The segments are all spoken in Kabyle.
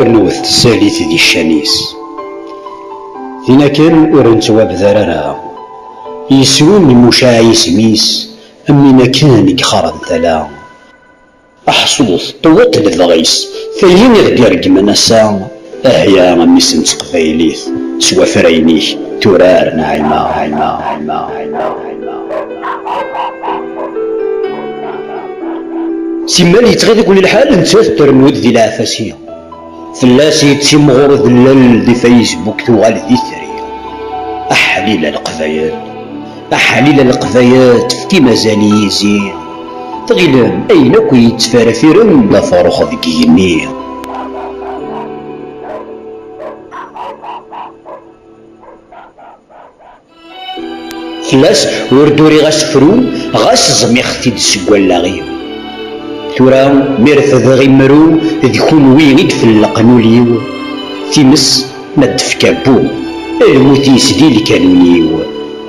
Rnut tsalit di ccan-is. Tin akken ur nettwabder ara. Yesru n Mucaɛ isem-is am win akken i gxaren tala. Aḥsut, qewweṭ lebɣi-s. Tagi i ɣ-d-ireggmen ass-a, ahya a mmi-s n teqbaylit, s wafrayen-ik, turar Naɛima, Naɛima, Naɛima, Naɛima. Simmal yettɣi deg-wen lḥal, nettat trennu-d di leɛfas-i. Fell-as yettimɣur udellel di Facebook tuɣal d itri. Aḥlil a Leqbayel! Aḥlil a Leqbayel tefkim azal i yizi. Tɣilem ayen akk yettferfiren d afrux deg igenni. Fell-as ur d-uriɣ asefru ɣas ẓmiɣ-t-id seg wallaɣ-iw. Tura mi refdeɣ imru d kunwi i d-felleqen ul-iw, times ma d-tefka bu, lmut yesdi lkanun-iw,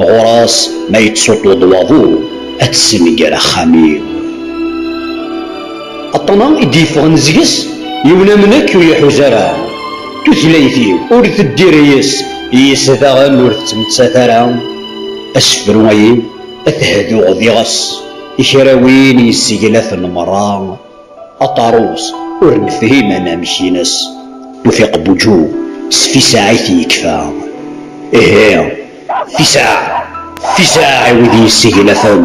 ɣur-s ma yettuṭuḍ waḍu ad tessenger axxam-iw. Aṭṭan-a i d-yeffɣen seg-s yiwen am nekk ur iḥuz ara. Tutlayt-iw ur teddir yes, yes daɣen ur tettmettat ara asefru agi ad t-hduɣ diɣes i kra win yesseglafen merra aṭarus ur nefhim anamek-ines Tufiq Buǧu s Fisaɛ i t-yekfa ihi Fisaɛ Fisaɛ i wid yesseglafen.